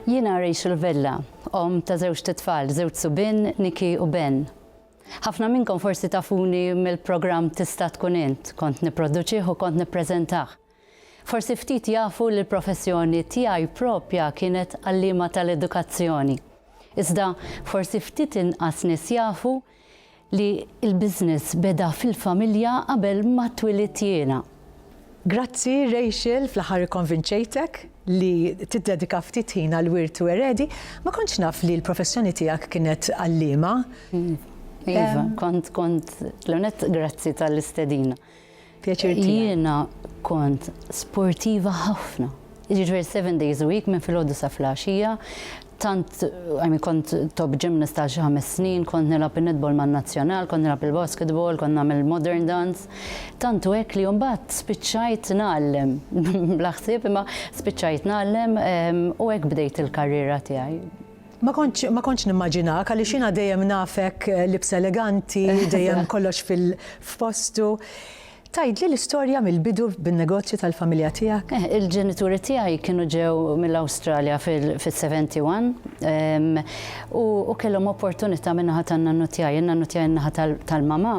Jiena Rachel Vella, omm ta' żewġt itfal, żewġ subien, Nicky u Ben. Ħafna minnkom forsi tafuni mill-programm Tista' Tkun Int, kont nipproduċih u kont nippreżentah. Forsi ftit jafu li l-professjoni tiegħi proprja kienet għalliema tal-edukazzjoni. Iżda forsi ftit inqas nies jafu li l-business beda fil-familja qabel ma twilidt jiena. Grazzi Rachel, fl-aħħar ikkonvinċejtek li tiddedika ftit ħin għall-wirt u eredi. Ma kontx naf li l-professjoni tiegħek kienet għalliema. Iva, kont, kont. L-ewwel nett grazzi tal-istedina. pjaċir tiegħi. Jiena kont sportiva ħafna. Jiġifieri seven days a week minn filgħodu sa filgħaxija. Tant I mean kont top gymnast għal xi ħames snin, kont nilgħab in-netball man-nazzjonal, kont nilgħab il-basketball, kont nagħmel modern dance. Tantu hekk li mbagħad spiċċajt ngħallem. Bla ħsieb imma spiċċajt ngħallem u hekk bdejt il-karriera tiegħi. Ma kontx ma kontx nimmaġinak għaliex jiena dejjem nafek libs eleganti, dejjem kollox fil f'postu. Tgħidli l-istorja mill-bidu bin-negozju tal-familja tiegħek? Eh, il-ġenituri tiegħi kienu ġew mill-Awstralja fil-71 u kellhom opportunità min-naħa tan-nannu tiegħi, in-nannu tiegħi in-naħa tal-mama.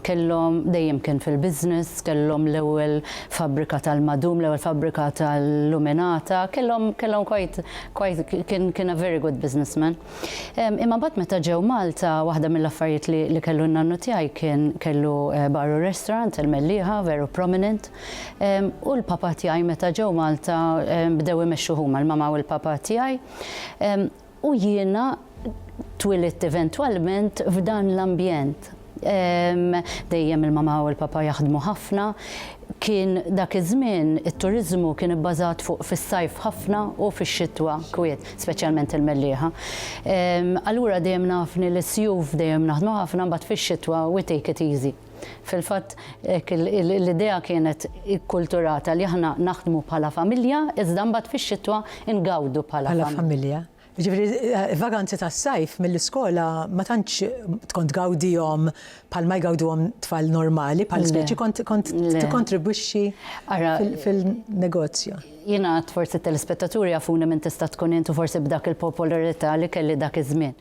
Kellhom, dejjem kien fil-business, kellhom l-ewwel fabbrika tal-madum, l-ewwel fabbrika tal-luminata, kellhom, kellhom quite, quite, kien, kien a very good businessman. Imma mbagħad meta ġew Malta, waħda mill-affarijiet li, li kellu n-nannu tiegħi kien, kellu bar u restaurant, il-Mellieħa, veru prominent. U l-papa tiegħi meta ġew Malta bdew imexxuh huma, il-mama u l-papa tiegħi. U jiena twilidt eventwalment f'dan l-ambjent. Dejjem il-mama u l-papa jaħdmu ħafna. Kien dak iż-żmien it-turiżmu kien ibbażat fuq fis-sajf ħafna u fix-xitwa kwiet, speċjalment il-Mellieħa. Allura dejjem nafni l-isjuf dejjem naħdmu ħafna mbagħad fix-xitwa we take it easy. Fil-fatt, l-idea kienet ikkulturata li aħna naħdmu bħala familja, iżda mbagħad fix-xitwa ngawdu bħala familja. Bħala familja. Ġifieri, vaganzi tas-sajf mill-iskola ma tantx tkun tgawdihom bħalma jgawduhom tfal normali, bħal speċi kont tikkontribwixxi fil-negozju. Jiena għad forsi t-telespettaturi jafuni min tista' tkun int u forsi b'dak il-popolarità li kelli dak iż-żmien.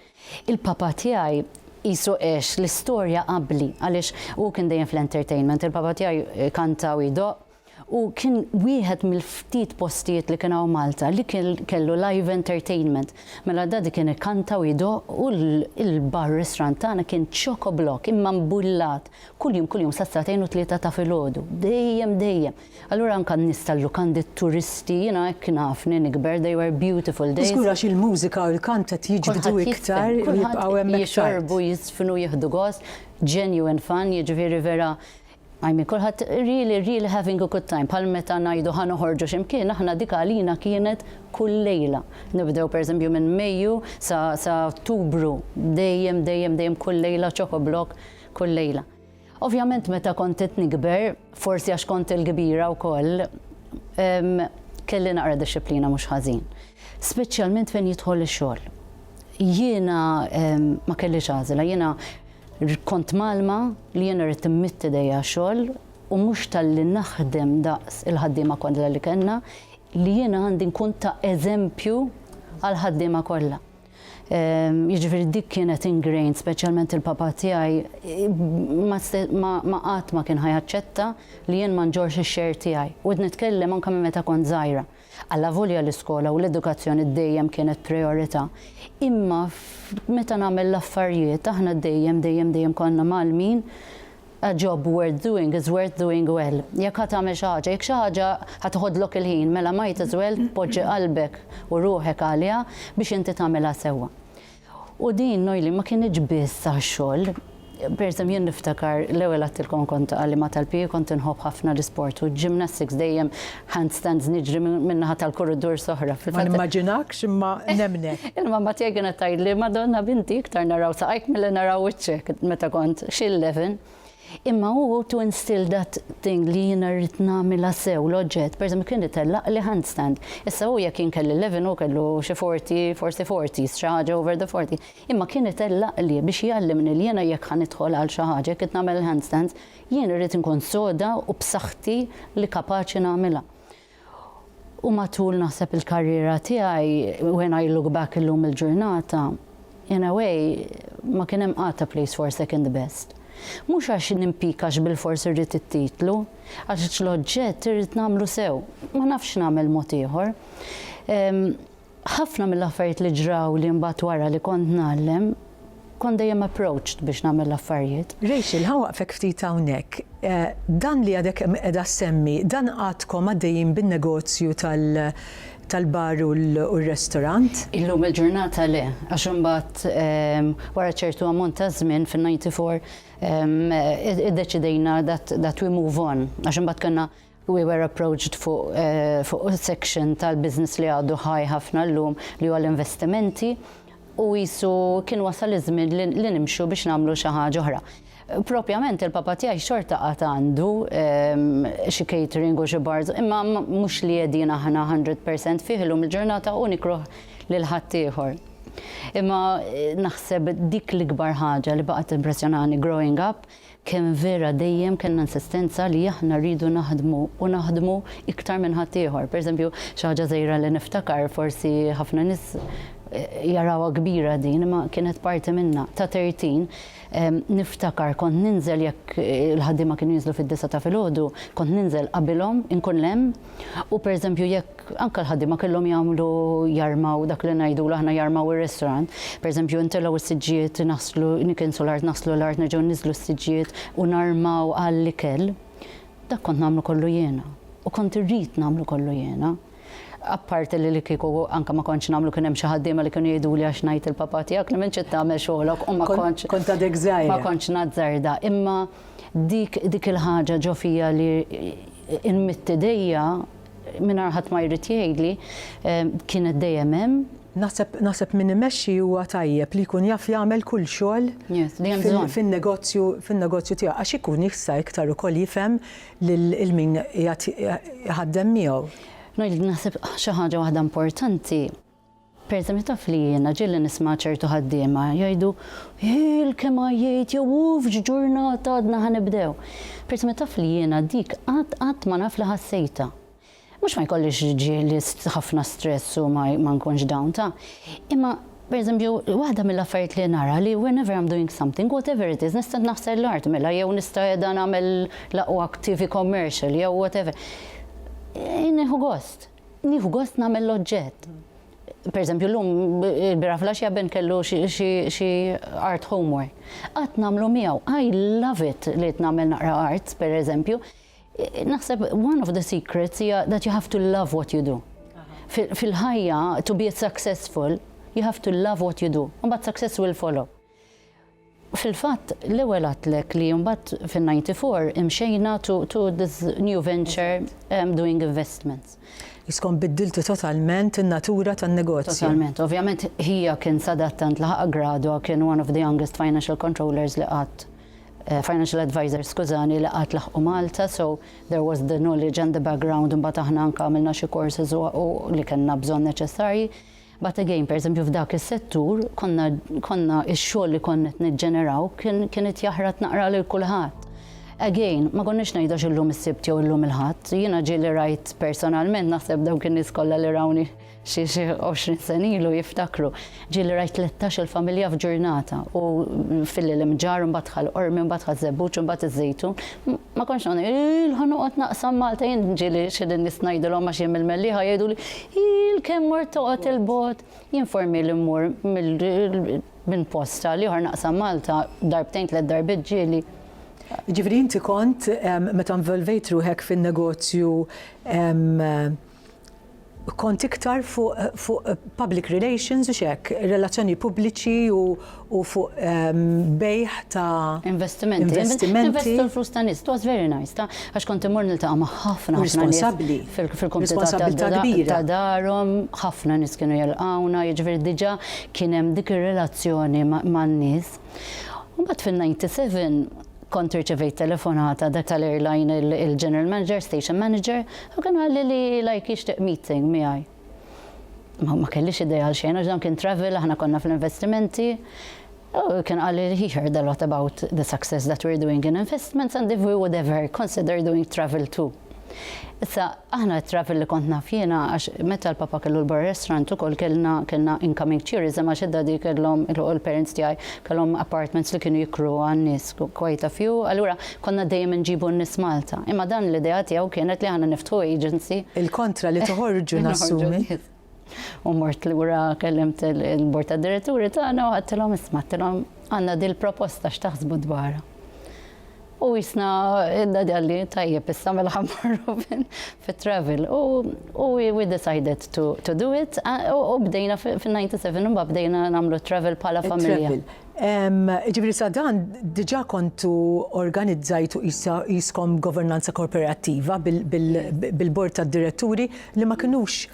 Il-papa tiegħi qisu għex l-istorja qabli għaliex hu kien dejjem fl-entertainment. Il-papa tiegħi kanta u jdoqq u kien wieħed mill-ftit postijiet li kien hawn Malta li kellu live entertainment. Mela daddy kien ikanta u jdoqq u l-bar restaurant tagħna kien chock-o-block imma mbullat kuljum kuljum sas-sagħtejn u tlieta ta' filgħodu. Dejjem dejjem. Allura anka n-nies tal-lukandi, t-turisti, jiena hekk nafni nikber, they were beautiful days. Żgur għax il-mużika u l-kant qed jiġbdu iktar u jibqgħu hemm iktar. Kulħadd jifhem, jixorbu, jiżfnu, jieħdu gost, genuine fun, jiġifieri vera, I mean, kulħadd really, really having a good time. Bħal meta ngħidu ħa noħorġu xi mkien, aħna dik għalina kienet kull lejla. Nibdew per eżempju minn Mejju sa Ottubru, dejjem, dejjem, dejjem kull lejla choco block, kull lejla. Ovvjament meta kont qed nikber, forsi għax kont il-kbira wkoll, kelli naqra dixxiplina mhux ħażin. Speċjalment fejn jidħol ix-xogħol. Jiena ma kellix għażla, jiena kont mgħallma li jiena rrid immidd idejja għax-xogħol u mhux talli naħdem daqs il-ħaddiema kollha li kellna, li jiena għandi nkun ta' eżempju għall-ħaddiema kollha. Jiġifieri dik kienet ingrained, speċjalment il-papà tiegħi ma qatt ma kien ħa jaċċetta li jien ma nġorrx ix-share tiegħi. U qed nitkellem anke minn meta kont żgħira. Allavolja l-iskola u l-edukazzjoni dejjem kienet prijorità, imma meta nagħmel l-affarijiet aħna dejjem, dejjem, dejjem konna mgħallmin A job worth doing is worth doing well. Jekk ħa tagħmel xi ħaġa, jekk xi ħaġa ħa tiħodlok il-ħin, mela might as well tpoġġi qalbek u ruħek għaliha biex inti tagħmilha sewwa. U din Noeline ma kinitx biss għax-xogħol. Per eżem, jien niftakar l-ewwel għadtilkom kont għalliema tal-PE kont inħobb ħafna l-isport u ġimnastiks dejjem handstands niġri minn naħa tal-korridur soħra. Ma nimmaġinakx imma nemnek. Imma ma tiegħi kienet tgħidli Madonna binti iktar naraw saqajk milli naraw wiċċek meta kont xi 11. Imma hu to instill that thing li jiena rrid nagħmilha sew l-oġġett, pereżempju kien itellaq li handstand. Issa hu jekk kien kelli 11 u kellu xi 40, forsi 40, xi ħaġa over the 40. Imma kien itellaq li biex jgħallimni li jiena jekk ħanidħol għal xi ħaġa kif nagħmel il-handstands, Jien irrid inkun soda u b'saħħti li kapaċi nagħmilha. U matul naħseb il-karriera tiegħi, when I look back illum il-ġurnata, in a way, ma kien hemm qatt a place for second best. Mhux għax nimpikax bilfors irrid it-titlu, għax l-oġġett irrid nagħmlu sew, ma nafx nagħmel mod ieħor. Ħafna mill-affarijiet li ġrawli mbagħad wara li kont ngħallem, kont dejjem approached biex nagħmel l-affarijiet. Rachel, ħa waqfek ftit hawnhekk. Dan li għadek qiegħda ssemmi, dan għadkom għaddejjin bin-negozju tal-bar u r-restorant? Illum il-ġurnata le, għax imbagħad wara ċertu ammont ta' żmien fin-94 iddeċidejna that we move on għax imbagħad kellna We were approached fuq section tal-business li għadu high ħafna llum li huwa l-investimenti u qisu kien wasal iż-żmien li nimxu biex nagħmlu xi ħaġa oħra. Propjament il-papa tiegħi xorta għad għandu xi catering u xi bars imma mhux li qegħdin aħna 100 percent fih illum il-ġurnata u nikroh lil ħaddieħor. Imma naħseb dik l-ikbar ħaġa li baqgħet timpressjonani growing up, Kemm vera dejjem kellna insistenza li aħna rridu naħdmu u naħdmu iktar minn ħaddieħor. Pereżempju, xi ħaġa żgħira li niftakar, forsi ħafna nies jarawha kbira din, imma kienet parti minnha. Ta' tertin, niftakar kont ninżel jekk il-ħaddiema kienu jinżlu fid-disgħa ta' filgħodu, kont ninżel qabilhom, inkun hemm, U pereżempju jekk anke l-ħaddiema kellhom jagħmlu jarmaw dak li ngħidu aħna jarmaw ir-restaurant, pereżempju intelgħu s-siġġijiet naħslu nikinsu l-art naħslu l-art nerġgħu nniżlu s-siġġijiet u narmaw għall-ikel, dak kont nagħmlu kollu jiena u kont irrid nagħmlu kollu jiena. Apparti li li kieku anke ma kontx nagħmlu kien hemm xi ħaddiema li kienu jgħiduli għax ngħid il-papà tiegħek li m'intx qed tagħmel xogħlok u ma kontx. Kont għadek żgħira. Ma kontx nazzarda imma Dik, dik il-ħaġa ġo fija li nmidd idejja mingħajr ħadd ma jrid jgħidli, kienet dejjem hemm. Naħseb, naħseb min imexxi huwa tajjeb li jkun jaf jagħmel kull xogħol fin-negozju, fin-negozju tiegħu għax ikun jista' iktar ukoll jifhem lil min qiegħed iħaddem miegħu. Ngħidlek naħseb xi ħaġa waħda importanti. Pereżempju, taf li jiena ġieli nisma' ċertu ħaddiema jgħidu, Hill kemm għajjejt jew uff x'ġurnata għadna ħa nibdew. Pereżempju, taf li jiena dik qatt qatt ma naf li ħassejtha. Mhux ma jkollix ġieli ħafna stress u ma nkunx down, ta. Imma, pereżempju, waħda mill-affarijiet li nara li whenever I'm doing something, whatever it is, nista' naħsel l-art mela jew nista' qiegħda nagħmel l-aqwa TV commercial jew whatever, nieħu gost. Nieħu gost nagħmel l-oġġett. Per eżempju, llum il-bira flaxja ben kellu xi art homework. Qatt nagħmlu miegħu. I love it li nagħmel naqra arts, per eżempju. Naħseb one of the secrets hija that you have to love what you do. Fil-ħajja, to be successful, you have to love what you do. Mbagħad success will follow. Fil-fatt, l-ewwel għadtlek li mbagħad fin-94 imxejna to this new venture doing investments. Iskom biddiltu totalment in-natura tan-negozju. Totalment. Ovvjament ħija kien sadattant laħaq gradwa kien one of the youngest financial controllers li qatt eh, financial advisors skużani li qatt laħqu Malta, so there was the knowledge and the background imbagħad aħna anke għamilna xi courses li kellna bżonn neċessarji. But again, pereżempju f'dak is-settur konna konna x-xogħol li konna qed niġġeneraw kien kien qed jaħrat naqra lil kulħadd. Again, ma konniex ngħidu għax illum is-Sibt jew illum il-Ħadd. Jiena ġieli rajt personalment, naħseb dawk in-nies kollha li rawni xi xi għoxrin sena ilu jiftakru, ġieli rajt tlettax-il familja f'ġurnata u fil-Ilmġarr, imbagħad dħal Qormi, imbagħad dħal Żebbuġ, imbagħad iż-Żejtun. Ma kontx noqgħod ngħid, Iill ħa noqgħod naqsam Malta jien, ġieli xi lin-nies ngħidilhom għax jien mill-Mellieħa jgħiduli, Ħiel kemm mort toqgħod 'il bogħod. Jien for mil immur minn post għal ieħor naqsam Malta darbtejn tliet darbiet ġieli. Jiġifieri inti kont meta involvejt ruħek fin-negozju kont iktar fuq fuq public relations u x'hekk, relazzjoni pubbliċi u, u fuq bejgħ ta' investimenti. Investimenti. Investu l-flus ta' nies. It was very nice ta' għax kont immur niltaqa' ma' ħafna ħafna. Responsabbli. Fil-komunità ta' darhom ħafna nies kienu jilqgħuna, jiġifieri diġà kien hemm dik ir-relazzjoni man-nies. U mbagħad fin-ninety seven kont irċevejt telefonata dak tal-airline il-general manager, station manager, u kien qalli li like jixtieq meeting miegħi. Ma ma kellix idea għal xejn għax dan kien travel, aħna konna fl-investimenti. U kien qalli he heard a lot about the success that we're doing in investments and if we would ever consider doing travel too. Issa, aħna t-travel li kont naf jiena għax meta l-papa kellu l-bar restaurant ukoll kellna kellna incoming tourism għax id-daddy kellhom il-parents tiegħi kellhom apartments li kienu jikru għan-nies quite a few allura Konna dejjem inġibu n-nies Malta, imma dan l-idea tiegħu kienet li aħna niftħu agency. Il-kontra li toħorġu nassumi. U mort lura kellimt il-bord tad-diretturi tagħna u ħadtilhom isma' għattilhom għandna din proposta x'taħsbu dwarha. U jisna idda dalli tajjeb issa mela ħammarru fit-travel. U we decided to, to do it u bdejna fin-97 u bdejna nagħmlu travel bħala familja. Jiġifieri sa dan diġà kontu organizzajtu qisha qiskom governanza korporattiva bil-bord tad-diretturi li ma kinux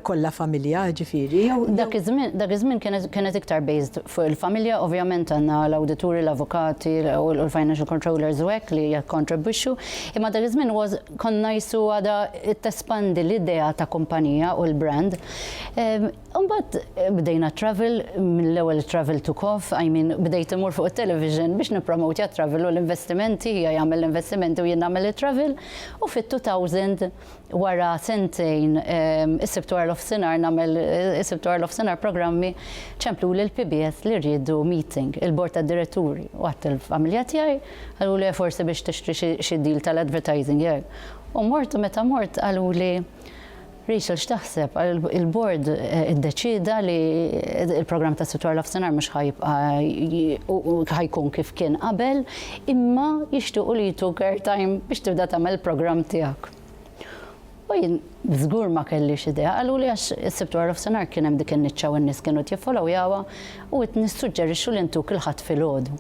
kollha familja, jiġifieri, jew? Dak iż-żmien, dak iż-żmien kienet kienet iktar based fuq il-familja, ovvjament għandna l-awdituri, l-avukati u l-financial controllers u hekk li jikkontribwixxu, imma dak iż-żmien was konna qishu għadha tespandi l-idea ta' kumpanija u l-brand. Imbagħad bdejna t-travel, mill-ewwel it-travel took off, I mean bdejt immur fuq it-television biex nippromotja t-travel u l-investimenti, hija jagħmel l-investimenti u jien nagħmel it-travel, u fit-2000 wara sentejn is-Sibt wara l-ofsinhar nagħmel is-Sibt wara l-ofsinhar programmi, ċempluli l-PBS li riedu meeting, il-bord tad-diretturi, u għidt il-familja tiegħi, qaluli eh forsi biex tixtri xi deal tal-advertising jekk, u mort u meta mort qaluli, Rachel x'taħseb? Il-Bord iddeċieda li l-programm ta' Sitt Wara Nofsinhar mhux ħa jibqa' ħa jkun kif kien qabel, imma jixtiequ li jtuk airtime biex tibda tagħmel il-programm tiegħek. U jien żgur ma kellix idea, qaluli għax is-Sibt Wara Nofsinhar kien hemm dik in-niċċa u n-nies kienu qed jiffolowjawha u qed nissuġġerixxu li ntuk il-Ħadd filgħodu.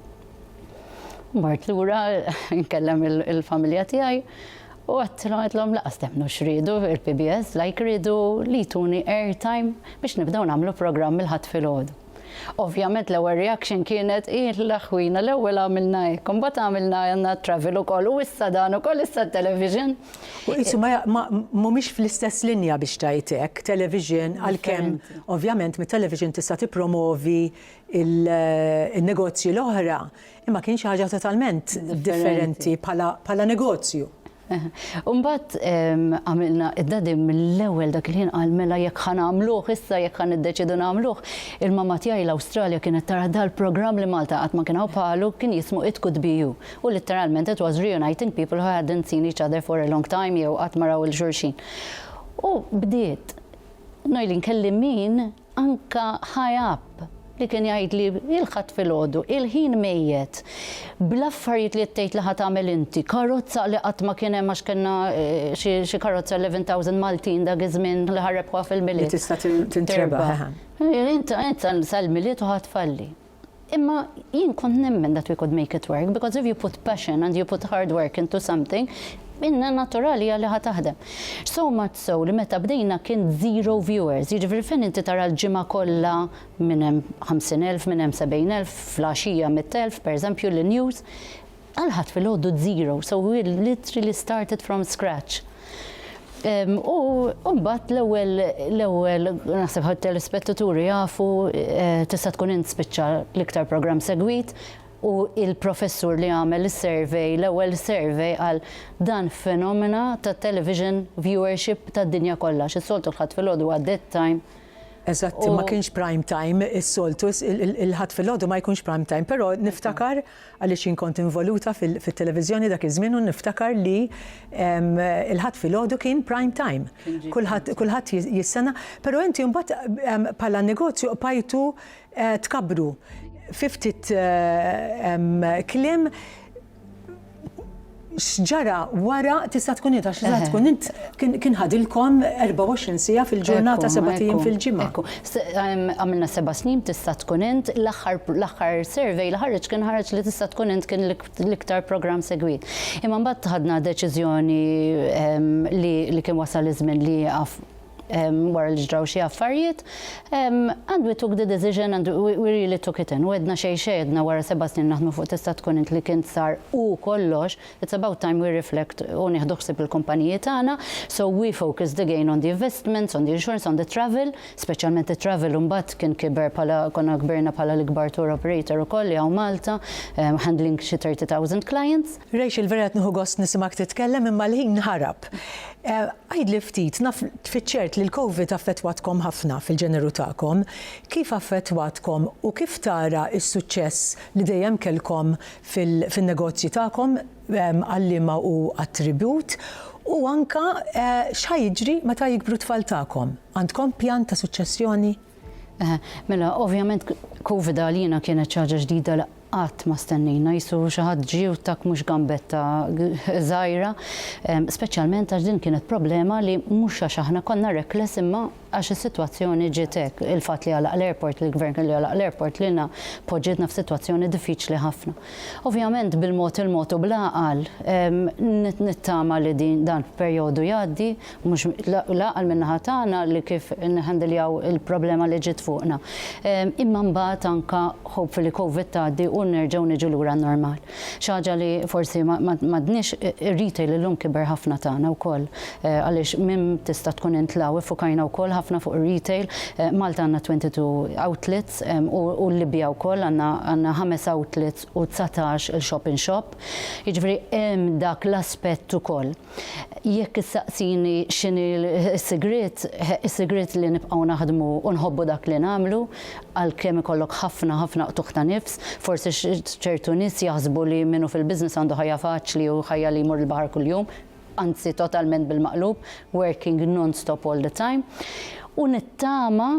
Mort lura nkellem il-familja tiegħi u għedtilhom għedlhom laqas temmnu x'riedu il-PBS like riedu li jtuni air time biex nibdew nagħmlu programm il-Ħadd filgħodu. Ovvjament l-ewwel reaction kienet hi l-aħwina l-ewwel għamilna hekk imbagħad għamilna għandna travel ukoll u issa dan ukoll issa t-television. U qisu mhumiex fl-istess linja biex tgħid hekk, television għalkemm ovvjament mit-television tista' tippromovi il-negozji l-oħra, imma kien xi ħaġa totalment differenti bħala negozju. U mbagħad għamilna id-dadi mill-ewwel dak il-ħin qal mela jekk ħa nagħmluh issa jekk ħa niddeċiedu nagħmluh, il-mamma tiegħi l-Awstralja kienet tara dal-programm li Malta qatt ma kien hawn bħalu kien jismu It Could Be You u litteralment it was reuniting people who hadn't seen each other for a long time jew qatt ma raw 'il xulxin. U bdiet Noeleen kelli min Anke high up li kien jgħidli il-Ħadd filgħodu, il-ħin mejjet, bl-affarijiet li qed tgħid li ħa tagħmel inti, karozza li qatt ma kien hemm għax kellna xi karozza 11,000 Maltin dak iż-żmien li ħarrebħuha fil-Milied. Li tista' tintrebaħ. Int sal-Milied u ħa tfalli. Imma jien kont nemmen that we could make it work because if you put passion and you put hard work into something inna naturali hija li ħa taħdem. So much so li meta bdejna kien zero viewers, jiġifieri fejn inti tara l-ġimgħa kollha minn hemm 50,000 minn hemm 70,000 fl-għaxija 100,000 per eżempju li news Għal ħadd filgħodu zero, so we literally started from scratch. U mbagħad l-ewwel l-ewwel naħseb ħadd telespettaturi jafu tista' tkun int spiċċa l-iktar programm segwit u il-professur li għamel is-survey, l-ewwel survey qal dan fenomena tat-television viewership tad-dinja kollha għax is-soltu l-Ħadd filgħodu huwa dead time. Eżatt, ma kienx prime time is-soltu il-Ħadd filgħodu ma jkunx prime time, però niftakar għaliex jien kont involuta fit-televiżjoni dak iż-żmien u niftakar li l-Ħadd filgħodu kien prime time. Kulħadd jistana, però inti mbagħad bħala negozju qbajtu eh, tkabbru. Fiftit eh, kliem X'ġara wara tista' tkun int għax tista' tkun int kien ħadilkom 24 siegħa fil-ġurnata sebat ijiem fil-ġimgħa. Ekku, għamilna seba' snin b'tista' tkun int, l-aħħar l-aħħar survey li ħareġ kien ħareġ li tista' tkun int kien l-iktar programm segwit. Imma mbagħad ħadna deċiżjoni li kien wasal iż-żmien li jieqaf. wara li ġraw xi affarijiet, and we took the decision and we really took it in. U għedna xejn x'għedna wara seba' snin naħdmu fuq tista' tkun int li kien sar u kollox, it's about time we reflect u nieħdu ħsieb il-kumpaniji tagħna. So we focused again on the investments, on the insurance, on the travel, speċjalment it-travel u mbagħad kien kiber bħala konna kbirna bħala l-ikbar tour operator ukoll li hawn Malta, handling xi 30,000 clients. Rachel vera qed nieħu gost nisimgħek titkellem imma l-ħin ħarab. Għidli ftit, naf fiċ-ċert li l-Covid affettwatkom ħafna fil-ġeneru tagħkom. Kif affettwatkom u kif tara s-suċċess li dejjem kellkom fin-negozji tagħkom għalliema u attribut u anke x'ħa jiġri meta jikbru t-tfal tagħkom? Għandkom pjan ta' suċċessjoni? Mela, ovvjament Covid għalina kienet xi ħaġa ġdida Qatt ma stennejna jsur xi ħadd ġiewtak mhux gambetta żgħira, speċjalment għax din kienet problema li mhux għax aħna konna reckless imma għax is-sitwazzjoni ġiet hekk. Il-fatt li għalaq l-airport, li l-Gvern kellu jagħlaq l-airport lilna poġġietna f'sitwazzjoni diffiċli ħafna. Ovvjament bil-mod il-mod u bl-għaqal nittama li dan perjodu jgħaddi. Mhux l-għaqal min-naħa tagħna li kif nħandiljaw il-problema li ġiet fuqna. Imma mbagħad anke hopefully Covid tgħaddi u nerġgħu niġu lura n-normal. Xi ħaġa li forsi m'għadniex, ir-retail illum kiber ħafna tagħna wkoll għaliex minn tista' tkun int l-hawn iffukajna wkoll ħafna fuq ir-retail. Malta għandna 22 outlets u l-Libja wkoll għandna ħames outlets u dsatax-il shop-in-shop. Jiġifieri hemm dak l-aspett ukoll. Jekk issaqsini x'inhi s-sigriet, is-sigriet li nibqgħu naħdmu u nħobbu dak li nagħmlu, għalkemm ikollok ħafna, ħafna qtugħ ta' nifs. Forsi ċertu nies jaħsbu li min hu fil-business għandu ħajja faċli u ħajja li jmur il-baħar kuljum, anzi totalment bil-maqlub, working non-stop all the time. U nittama.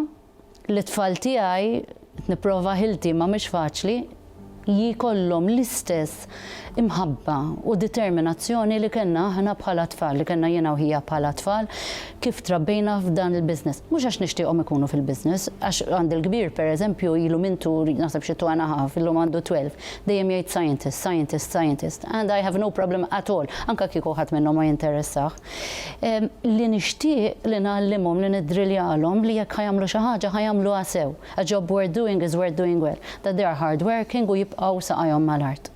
Lit-tfal tiegħi qed nipprova ħilti imma mhix faċli jkollhom l-istess imħabba u determinazzjoni li kellna aħna bħala tfal, li kellna jiena u ħija bħala tfal kif trabbejna f'dan il-business. Mhux għax nixtieqhom ikunu fil-business, għax għandi l-kbir pereżempju ilu minn tu naħseb xi two and a half, illum għandu twelve, dejjem jgħid scientist, scientist, scientist and I have no problem at all anke kieku ħadd minnhom ma jinteressah. li nixtieq li ngħallimhom, li niddriljalhom li jekk ħa jagħmlu xi ħaġa ħa jagħmluha sew. A job worth doing is worth doing well. That they are hard working u jibqgħu saqajhom mal-art.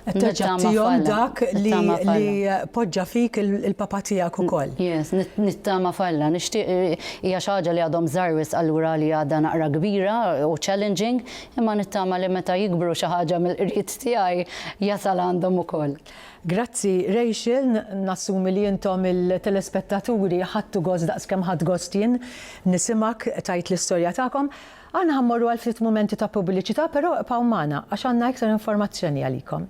Qed terġa' tagħtihom dak li poġġa fik il-Papa tiegħek ukoll. Yes, nittama f'Alla. Nixtieq hija xi ħaġa li għadhom żgħar wisq allura għalija għadha naqra kbira u challenging, imma nittama li meta jikbru xi ħaġa mill-qrid tiegħi jasal għandhom ukoll. Grazzi Rachel, nassumi li intom il-telespettaturi ħadtu gost daqs kemm ħadt gost jien nisimgħek tgħid l-istorja tagħkom. Aħna ħa mmorru għal ftit mumenti ta' pubbliċità però ibqgħu magħna għax għandna iktar informazzjoni għalikom.